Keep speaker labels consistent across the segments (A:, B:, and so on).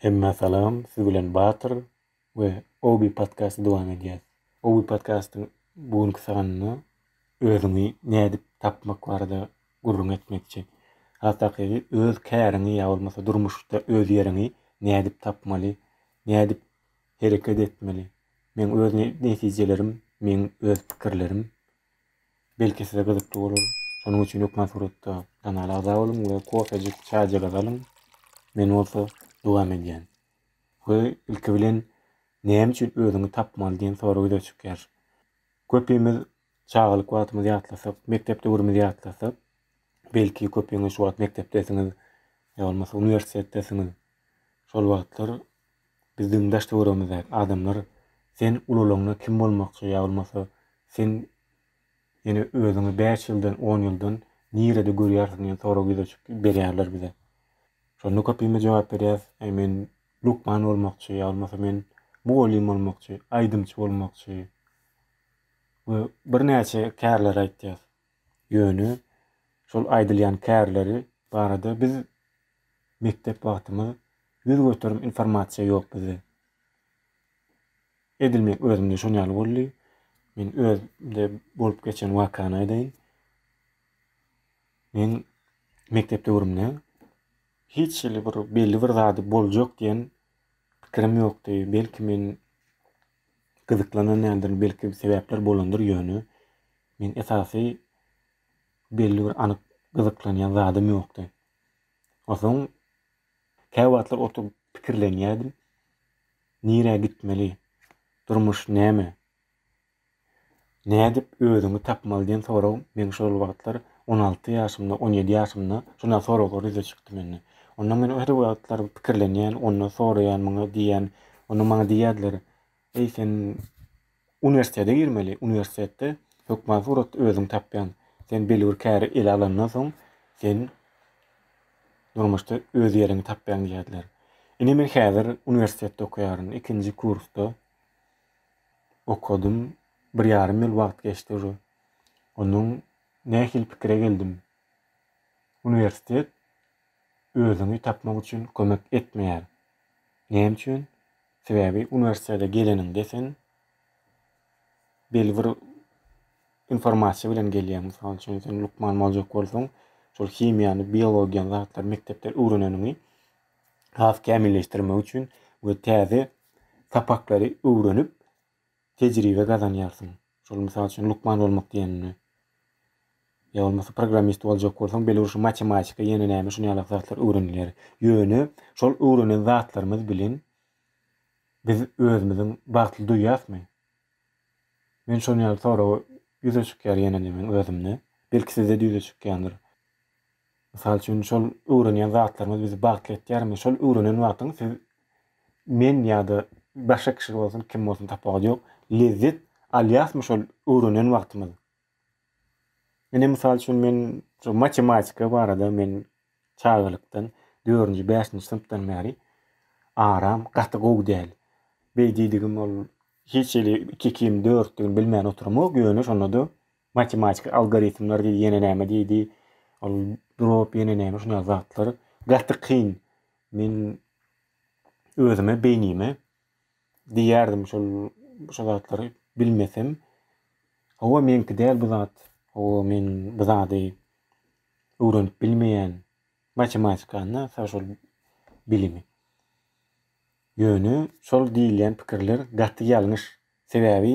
A: Hemmä salam siz bilen Batyr we Obi podkasty dowam edýäs. Obi podkastyň bu günki sanynda özüňi nädip tapmak barada gürrüň etmekçi. Has takygy öz käriňi ýa bolmasa durmuşda öz ýeriňi nädip tapmaly, nädip hereket etmeli. Meň öz netijelerim, meň öz pikirlerim Belki size gyzykly bolar. Şonuň üçin hökman suratda kanala agza boluň we kofejik, çaýjyk azalyň. Men bolsa dowam edýän. We ilki bilen näme üçin özüňi tapmaly diýen sorag ýüze çykýar. Köpimiz çagalyk wagtymyzy ýatlasak, mekdep döwrümizi ýatlasak, belki köpüňiz şu wagt mekdepdesiňiz ýa bolmasa uniwersitetdesiňiz. Şol wagtlar Bizdigiň daş-töweregimizdäki adamlar sen ulalaňda kim bolmakçy ýa bolmasa sen ýene özüňi bäş ýyldan, on ýyldan nirede görýärsiň diýen sorag ýüze çyk berýärler bize. Şonda köpimiz jogap berýäs, Äý men lukman bolmakçy ýa bolmasa men mugallym bolmakçy, aýdymçy bolmakçy we birnäçe kärleri aýtýas. Ýöne şol aýdylýan kärleri barada biz mekdep wagtymyz ýüz göterim informasiýa ýok bizde. Edil men özümde şon ýaly boldy. Men özümde bolup geçen wakany aýdaýyn. Men mekdep döwrümde hiç hili bir belli bir zady boljak diýen pikirim ýokdy. Belki men gyzyklananýandyr, belki sebäpler bolandyr, ýöne men esasy belli bir anyk gyzyklanýan zadym ýokdy. Onsoň käwagtlar oturyp pikirlenýärdim. Nirä gitmeli? Durmuş näme? Nädip özüňi tapmaly diýen sorag meň şol wagtlar on alty ýaşymda, on ýedi ýaşymda şunaý soraglar ýüze çykdy mende. Onda men her wagtlar pikirlenýän, onda soraýan muňa diýýän, onda maňa diýýärdiler, Eý sen uniwersitete girmeli, uniwersitetde hökman suratda özüňi tapýan. Sen belli bir käri ele alandan soň sen durmuşda öz ýeriňi tapýaň diýýärdiler. Ine men häzir uniwersitetde okaýaryn, ikinji kursda. okadym, bir ýarym ýyl wagt geçdi ujy. Ondan nähili pikire geldim? Uniwersitet özüňi tapmak üçin kömek etmeýär. Näme üçin? Sebäbi uniwersitete geleniňde sen belli bir informasiýa bilen gelýäň. Mysal üçin, sen lukman boljak bolsaň, şol himiýany, biologiýany, zatlary mekdepde öwreneniňi has kämilleşdirmek üçin we täze sapaklary öwrenip tejribe gazanýarsyň. Şol mysal üçin lukman bolmak diýenini. Ýa bolmasa programmist boljak bolsaň, belurşy matematika ýene näme şuny ýaly zatlar öwrenilýär. Ýöne şol öwrenen zatlarymyz bilen biz özümiziň bagtly duýýasmy? Men şuny ýaly sorag ýüze çykýar ýene-de men özümde. Belki sizde-de ýüze çykýandyr. Mysal üçin, şol öwrenýän zatlaryňyz bizi bagtly etýärmi? Şol öwrenen wagtyňyz siz men ýa-da başga kişi bolsun, kim bolsun tapawudy ýok, lezzet alýasmy şol öwrenen wagtymyz? Ine, mysal üçin, men şu matematika barada men çagalykdan, dördünji, bäşinji synpdan bäri aram gaty gowy däl. Beý diýdigim ol hiç hili iki-ikiň dörtdügini bilmän oturamok, ýöne şonda-da Matematik algoritmler diýdi, ýene näme diýdi. Ol drop ýene näme şuna zatlar. Gaty kyn. Men özüme beýnime diýerdim şol şu zatlary bilmesem. Hawa meňki däl bu zat. Hawa men bu zady öwrenip bilmeýän. Matematikany, şol bilimi. Ýöne şol diýilýän pikirler gaty ýalňyş. Sebäbi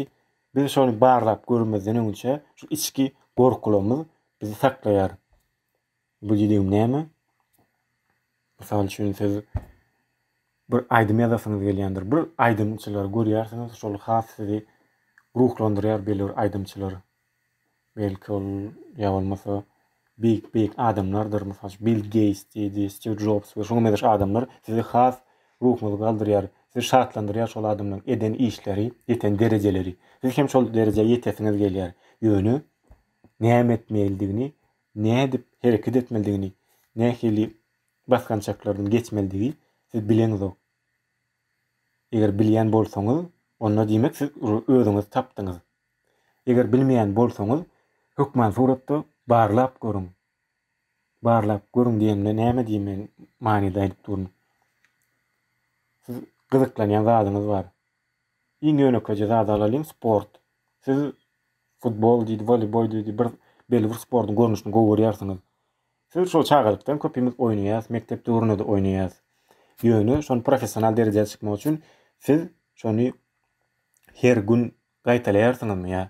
A: biz şony barlap görmezden öňçe şu içki gorkularymyz bizi saklaýar. Bu diýdigim näme? Mysal üçin siz bir aýdym ýazasyňyz gelýändir. Bir aýdymçylary görýärsiňiz, şol has sizi ruhlandyrýar belli bir aýdymçylar. Belki ol ýa bolmasa beýik beýik adamlardyr mysal üçin Bill Geýts diýdi Stiw Jobs we şuňa meňzeş adamlar sizi has ruhuňyzy galdyrýar sizi şatlandyrýar şol adamlaryň eden işleri ýeten derejeleri siz hem şol derejä ýetesiňiz gelýär ýöne näme etmelidigini nädip hereket etmelidigini nähili basgançaklardan geçmelidigi siz bileňizok eger bilýän bolsaňyz onda diýmek siz özüňizi tapdyňyz. Eger bilmeýän bolsaňyz, hökman suratda barlap görüň. Barlap görüň diýenimde näme diýme manyda aýdyp durun. Siz gyzyklanýan zadyňyz bar. Iň ýönekeje zady alalyň, sport. Siz futbol diýdi, woleýbol diýdi, bir belli bir sportuň görnüşini gowy görýärsiňiz. Siz şol çagalykdan köpimiz oýnaýarys, mekdep döwründe-de oýnaýarys. Ýöne şony professional derejä çykmak üçin siz şony her gün Gaýtalaýarsyňyzmy ýa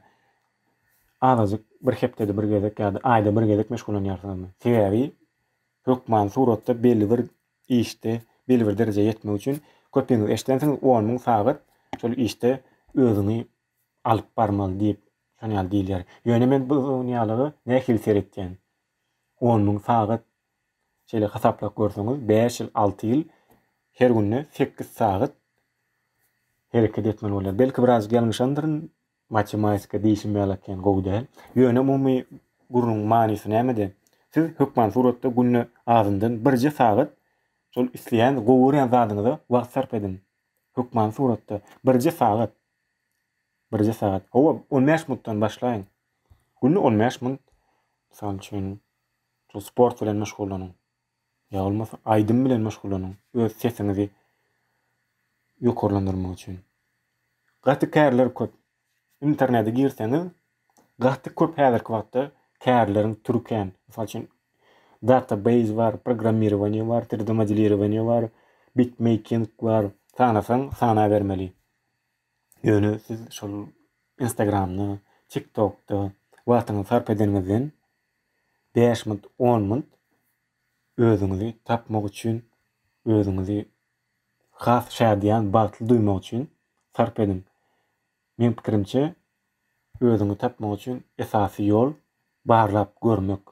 A: azajyk bir hepdede bir gezek ýa-da aýda bir gezek meşgullanýarsyňyzmy? Sebäbi hökman suratda belli bir işde, belli bir derejä ýetmek üçin köpiňiz eşidensiňiz on müň sagat şol işde özüňi alyp barmaly diýip şony ýaly diýilýär. Ýöne men bu dünýälige nähili seretýän? On müň sagat Şeýle hasaplap görseňiz, bäş ýyl, alty ýyl her günde sekiz sagat hereket etmeli bolýar. Belki biraz ýalňyşandyryn, matematika diýşim ýaly ekeni gowy däl. Ýöne umumy gürrüň manysy nämede? Siz hökman suratda günde azyndan birje sagat şol isleýän, gowy görýän zadyňyza wagt sarp ediň. Hökman suratda birje sagat. Birje sagat. Hawa, on bäş minutdan başlaýyň. Günde on bäş minut, mysal üçin, Şol sport bilen meşgullanyň. Ýa bolmasa aýdym bilen meşgullanyň. Öz sesiňizi ýokarlandyrmak üçin. Gaty kärler köp. Internete girseňiz, gaty köp häzirki wagtda kärleriň türi kän. Mysal üçin, database bar, programmirowaniýe bar, 3D modelirowaniýe bar, bitmeyking bar. Sanasaň, sanabermeli. Ýöne siz şol Instagramda, TikTokda wagtyňyzy sarp edeniňizden Bäş munt, on munt özüňizi tapmak üçin, özüňizi has şadyýan, bagtly duýmak üçin sarp ediň. Meň pikirimçe, özüňi tapmak üçin esasy ýol barlap görmek.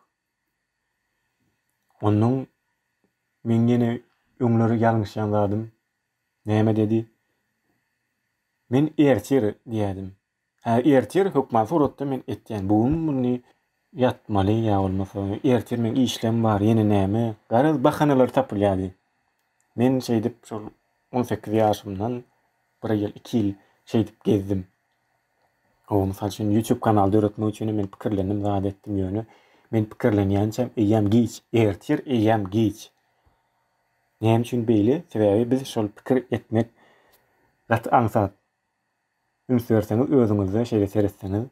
A: Onnoň meň ýene öňler ýalňyşýan zadym näme dedi? Men ertir diýýärdim. Hä ertir hökman suratda men etýän bu gün muny ýatmaly ýa bolmasa ertir meň işlem bar ýene näme garaz bahanalar tapylýardy. Men şeýdip şol on sekiz ýaşymdan bir ýyl iki ýyl şeýdip gezdim. Gowy mysal üçin YouTube kanal döretmek üçinem men pikirlendim zat etdim ýöne men pikirlenýänçäm eýýäm giç ertir eýýäm giç. Näme üçin beýle sebäbi biz şol pikir etmek gaty aňsat. Üns berseňiz özüňize şeýle seretseňiz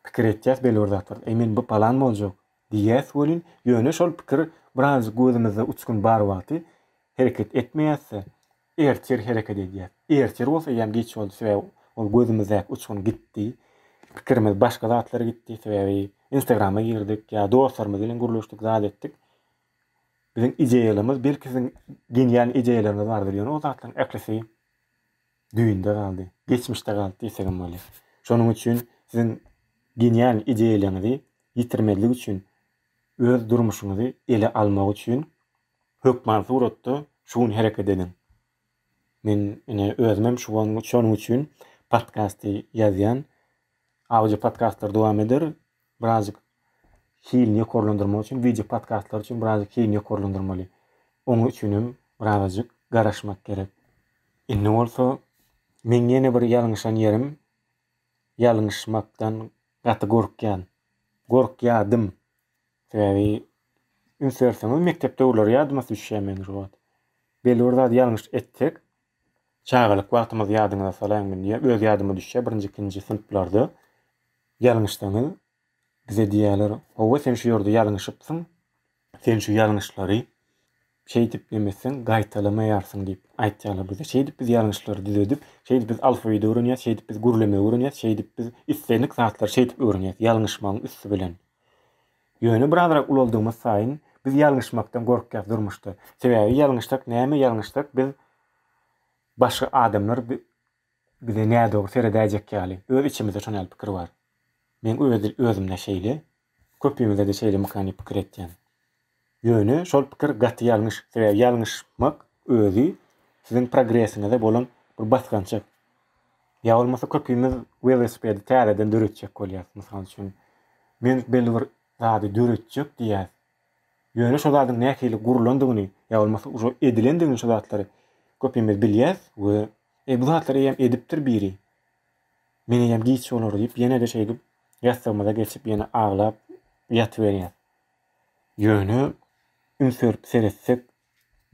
A: pikir etýäs belli bir zatlar. Eý men bu palan boljak diýýäs welin ýöne şol pikir birazjyk gözümizde uçgun bar wagty hereket etmeýäsde ertir hereket edýäs. Ertir bolsa eýýäm geç boldy sebäbi ol gözümizdäki uçgun gitdi. Pikirimiz başga zatlara gitdi sebäbi instagrama girdik ýa dostlarymyz bilen gürleşdik zat etdik. Biziň ideýalarymyz, belki siziň deňýän ideýalaryňyz bardyr, ýöne ol zatlaryň ählisi düýnde galdy, geçmişde galdy diýsegem bolýar. Şonuň üçin siziň genial ideýalaryňyzy ýitirmezlik üçin, öz durmuşyňyzy ele almak üçin hökman suratda şu gün hereket ediň. Men ine özümem şu wan şonuň üçin podkasty ýazýan. Audio podkastlar dowam eder. Birazjyk hilini ýokarlandyrmak üçin wideo podkastlar üçin birazjyk hilini ýokarlandyrmaly. Oň üçinem birazajyk garaşmak gerek. Indi bolsa meň ýene bir ýalňyşan ýerim ýalňyşmakdan gaty gorkýan. Gorkýadym. Sebäbi üns berseňiz mekdep döwürleri ýadyma düşýär meniň şu wagt. Bellibir zady ýalňyş etsek, çagalyk wagtymyzy ýadyňyza salaýyn men diýýän, öz ýadyma düşýär birinji, ikinji synplarda ýalňyşsaňyz Bize diýýärler, Hawa, sen şu ýerde ýalňyşypsyň, sen şu ýalňyşlary şeýdip nemesseň gaýtalamaýarsyň diýip aýtýarlar bize. Şeýdip biz ýalňyşlary düzedip, şeýdip biz alfawidi öwrenýäs, şeýdip biz gürlemegi öwrenýäs, şeýdip biz islendik zatlary şeýdip öwrenýäs, ýalňyşmagyň üsti bilen. Ýöne birazrak ulaldygymyz saýyn biz ýalňyşmakdan gorkýas durmuşda. Sebäbi ýalňyşsak, näme ýalňyşsak biz başga adamlar Bize nädogry seredäýjek ýaly, öz içimizde şon ýaly pikir bar. Meň öz özümde şeýle, köpümizdede şeýle mykany pikir etýän. Ýöne şol pikir gaty ýalňyş, sebäbi ýalňyşmak özi siziň progresiňize bolan bir basgançak. Ýa bolmasa köpümiz welosipedi täzeden döretjek bolýas. Mysal üçin, men belli bir zady döretjek diýýäs. Ýöne şo zadyň nähili gurlandygyny ýa bolmasa ujo edilendigini şo zatlary köpimiz bilýäs we Eý bu zatlary eýýäm edipdir biri. Men eýýäm giç bolar diýip ýene-de şeýdip ýassygymyza geçip ýene aglap ýatyberýäs. Ýöne üns berip seretsek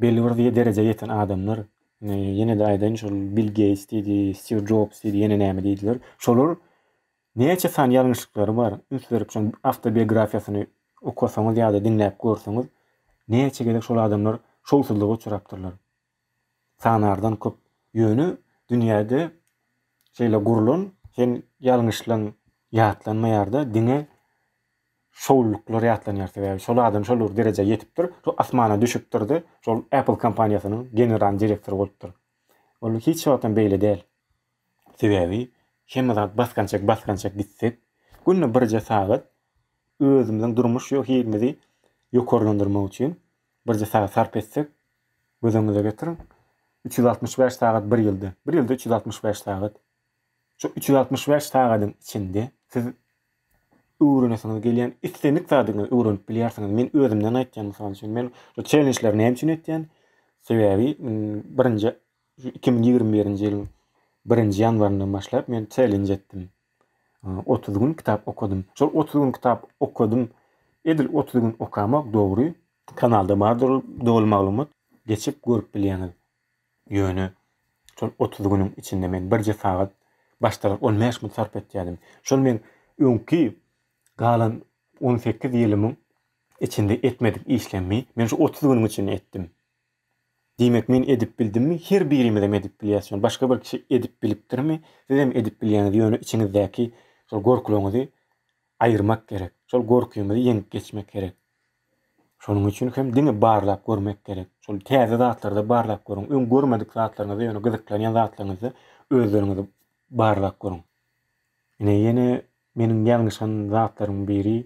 A: belli bir derejä ýeten adamlar ýene-de aýdaýyn şol Bill Geýts diýdi, Stiw Jobs diýdi ýene näme diýdiler. Şolar Näçe sany ýalňyşlyklary bar, üns berip şoň awtobiografiýasyny okasaňyz ýa-da diňläp görseňiz, näçe gezek şol adamlar şowsuzlyga uçrapdyrlar. Sanardan köp. Ýöne dünýäde şeýle gurlan hem ýalňyşlan ýatlanmaýar-da, diňe şowlulyklar ýatlanýar. Sebäbi şol adam şol bir derejä ýetipdir, şol asmana düşüpdir-de, şol Apple kompaniýasynyň general direktory bolupdyr. Ol hiç wagtam beýle däl. Sebäbi hemme zat basgançak-basgançak gitsek, günde birje sagat özümiziň durmuş ýo hilimizi ýokarlandyrmak üçin birje sagat sarp etsek, göz öňüňize getiriň, üç ýüz altmyş bäş sagat bir ýylda, bir ýylda üç ýüz altmyş bäş sagat. Şu üç ýüz altmyş bäş sagadyň içinde siz öwrenesiňiz gelýän islendik zadyňyzy öwrenip bilýärsiňiz. Men özümden aýtýan, mysal üçin, men bu çellenjleri näme üçin etýän? Sebäbi, birinji Şu iki müň ýigrimi birinji ýylyň birinji ýanwaryndan başlap men çellenj etdim. Otuz gün kitap okadym. Şol otuz gün kitap okadym. Edil otuz gün okamak dogry. Kanalda bardyr ol doly maglumat. Geçip görüp bilýäňiz. Ýöne şol otuz günüň içinde men birje sagat başdalar on bäş minut sarp etýärdim. Şol men öňki galan on sekiz ýylymyň içinde etmedik işlerimi men şu otuz günüň içinde etdim. Diýmek men edip bildimmi her birimizem edip bilýäs şony başga bir kişi edip bilipdirmi sizem edip bilýäňiz ýöne içiňizdäki şol gorkulaňyzy aýyrmak gerek şol gorkyňyzy ýeňip geçmek gerek şonuň üçin hem diňe barlap görmek gerek şol täze zatlarda barlap görüň öň görmedik zatlaryňyzy ýöne gyzyklanýan zatlaryňyzy özleriňizi barlap görüň ine ýene meniň ýalňyşan zatlaryň biri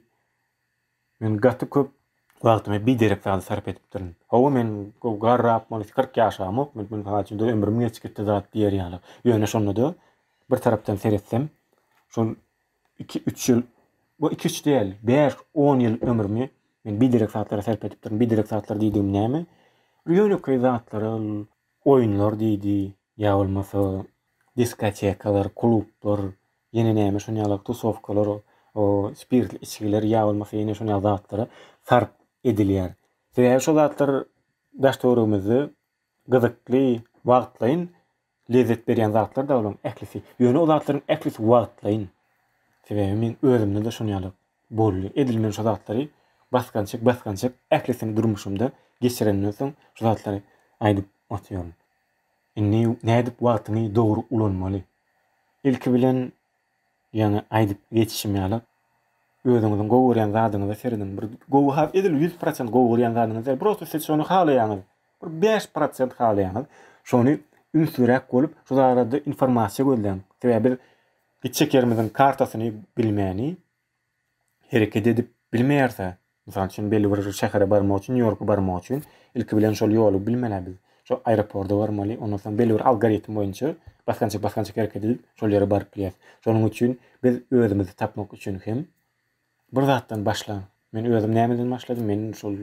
A: Men gaty köp wagtymy biderek zada sarp edipdirin. Hawa, men gowy garrap, bolesy kyrk ýaşamok, men mysal üçin, ömrüm geç gitdi zat diýer ýaly. Ýöne şonda-da, bir tarapdan seretsem, şol iki-üç ýyl, bu iki-üç däl, bäş, on ýyl ömrümi men biderek zatlara sarp edipdirin. Biderek zatlar diýdigim näme? Ýönekeý zatlara, oýunlar diýdi, ýa bolmasa diskotekalar, klublar, Ýene näme şon ýaly tusowkalar, o spirtli içgiler ýa bolmasa ýene şon ýaly zatlara sarp edilýär. Sebäbi şo zatlar daş-töweregimizde gyzykly, wagtlaýyn lezzet berýän zatlar da olaryň ählisi. Ýöne o zatlaryň ählisi wagtlaýyn. Sebäbi men özümde-de şon ýaly boldy. Edil men şo zatlary basgançak-basgançak ählisini durmuşymda geçirenden soň şo zatlary aýdyp otyryn. Indi nädip wagtyňy dogry ulanmaly? Ilki bilen, ýaňy aýdyp geçişim ýaly, özüňiziň gowy görýän zadyňyza serediň. Bir gowy has edil ýüz prosent gowy görýän zadyňyz däl, prosta siz şony halaýaňyz, bir bäş prosent halaýaňyz. Şony ünsliräk bolup, şu barada informasiýa gözläň. Sebäbi biz gitjek ýerimiziň kartasyny bilmäni, hereket edip bilmeýärse, mysal üçin belli bir şähere barmak üçin, Nýu-Ýorka barmak üçin ilki bilen şol ýoly bilmeli biz. Şol aeroporta barmaly, ondan soň belli bir algoritm boýunça basgançak basgançak hereket edip şol ýere baryp bilýäris. Şonuň üçin biz özümizi tapmak üçin hem bir zatdan başla. Men özüm nämeden başladym? Men şol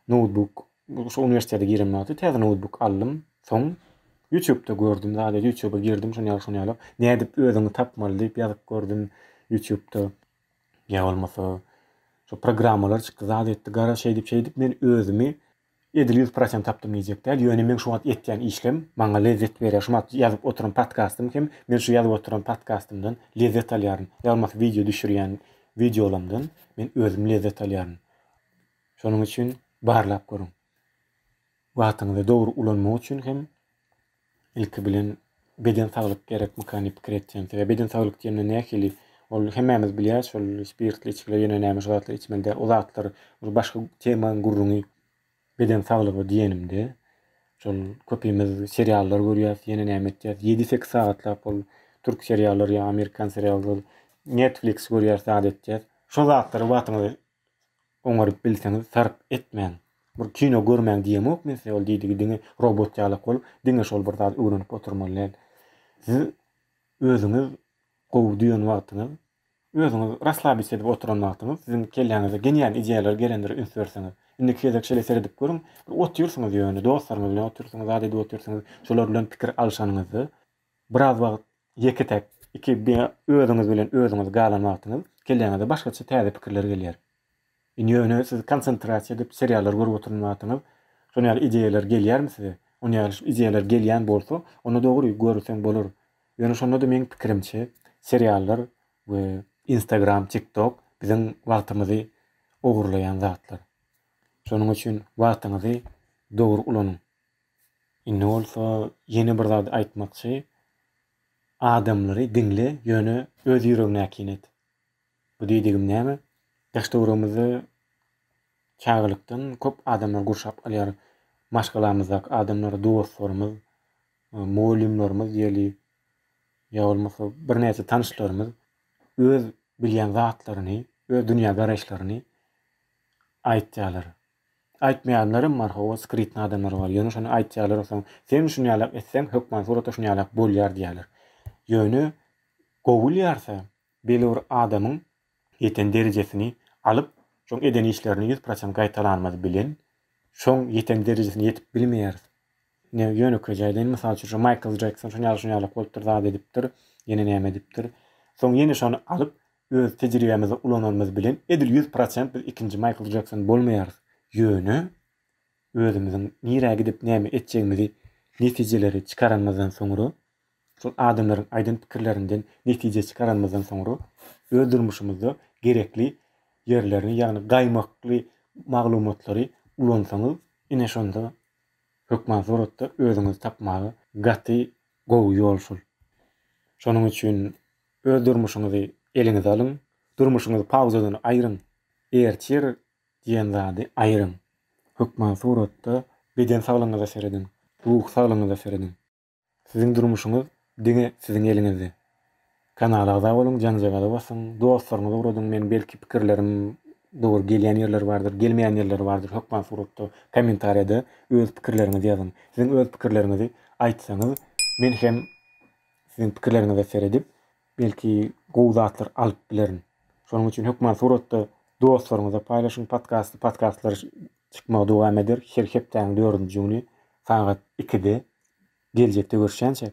A: noutbuk Bu şu uniwersitete giren wagty täze noutbuk aldym. Soň YouTube'da gördüm. Zade YouTube'a girdim şony ýaly şony ýaly. Nädip özüňi tapmaly diýip ýazyp gördüm YouTube'da. Ýa bolmasa şu programmalar çykdy. Zade etdi gara şeýdip şeýdip men özümi edil 100% tapdym diýjek däl. Ýöne men şu wagt etýän işlem maňa lezzet berýär. Şu wagt ýazyp oturan podkastym hem men şu ýazyp oturan podkastymdan lezzet alýaryn. Ýa bolmasa wideo düşürýän wideolamdan men özüm lezzet alýaryn. Şonuň üçin barlap görüň. Wagtyňyzy dogry ulanmak üçin hem ilki bilen beden saglyk gerekmika diýip pikir etýän. Sebäbi beden saglyk diýende nähili? Ol hemmämiz bilýäs, şol spirtli içgiler ýene näme şu zatlar içmeli däl. O zatlar ol başga temaň gürrüňi. Beden saglygy diýenimde şol köpimiz seriallar görýäs, ýene näme etýäs. Ýedi-sekiz sagatlap ol türk seriallar ýa amerikan seriallar, Netflix görýäs zat etýäs. Şo zatlary wagtyňyzy Oňaryp bilseňiz sarp etmäň. Bir kino görmäň diýemok men size ol diýdigi diňe robot ýalak bolup diňe şol bir zat öwrenip oturmaly däl. Siz özüňiz gowy düýen wagtyňyz, özüňiz raslabit edip oturan wagtyňyz siziň kelläňize genial ideýalar gelendir üns berseňiz. Indiki gezek şeýle seredip görüň bir otyrsyňyz ýöne dostlaryňyz bilen otyrsyňyz zat edip otyrsyňyz şolar bilen pikir alşanyňyzda Biraz wagt ýeke-täk, iki diňe özüňiz bilen özüňiz galan wagtyňyz kelläňize başgaça täze pikirler gelýär. Indi ýöne siz konsentrasiýa edip seriallar görüp oturan wagtyňyz şon ýaly ideýalar gelýärmi size? Ony ýaly ideýalar gelýän bolsa, onda dogry görseň bolar. Ýöne şonda-da meň pikirimçe seriallar we instagram, tiktok biziň wagtymyzy ogurlaýan zatlar. Şonuň üçin wagtyňyzy dogry ulanyň. Indi bolsa ýene bir zady aýtmakçy, Adamlary diňle, ýöne öz ýüregiňe äkin et. Bu diýdigim näme? Daş-töweregimizi çagalykdan köp adamlar gurşap alýar. Maşgalamyzdaky adamlar, dostlarymyz, mugallymlarymyz diýeli, ýa bolmasa birnäçe tanyşlarymyz öz bilýän zatlaryny, öz dünýägaraýyşlaryny aýtýarlar. Aýtmaýanlaram bar hawa skrytnyý adamlar bar ýöne şony aýtýarlar soň sen şunýalak etseň hökman suratda şunýalak bolýar diýýärler ýöne gowul ýarsa belli bir adamyň ýeten derejesini alyp şoň eden işlerini ýüz prosent gaýtalanymyz bilen şoň ýeten derejesine ýetip bilmeýäris Ine, ýönekeý jaýdan, mysal üçin, şo Maýkl Jekson şuny ýaly, şuny ýaly bolupdyr, zat edipdir, ýene näme edipdir. Soň ýene şony alyp, öz tejribämizde ulananymyz bilen, edil ýüz prosent biz ikinji Maýkl Jekson bolmaýarys. Ýöne, özümiziň nirä gidip, näme etjegimizi, netijeleri çykaranymyzdan soňra, şol adamlaryň aýdan pikirlerinden netije çykaranymyzdan soňra, öz durmuşymyzda gerekli ýerlerini, ýagny gaýmakly maglumatlary ulansaňyz, ine, şonda hökman suratda özüňizi tapmaga gaty gowy ýol şol. Şonuň üçin öz durmuşyňyzy eliňize alyň, durmuşyňyzy pauzadan aýryň, ertir diýen zady aýryň. Hökman suratda beden saglygyňyza serediň, ruhy saglygyňyza serediň. Siziň durmuşyňyz diňe siziň eliňizde. Kanala agza boluň janjagaza basyň dostlaryňyza ugradyň men belki pikirlerim dogry gelýän ýerleri bardyr gelmeýän ýerleri bardyr hökman suratda kommentariýada öz pikirleriňizi ýazyň siziň öz pikirleriňizi aýtsaňyz men hem siziň pikirleriňize seredip Belki gowy zatlar alyp bilerin. Şonuň üçin hökman suratda dostlaryňyza paýlaşyň podkasty. Podkastlar çykmagy dowam eder. Her hepdäniň dördünji güni sagat ikide. Geljekde görüşýänçäk.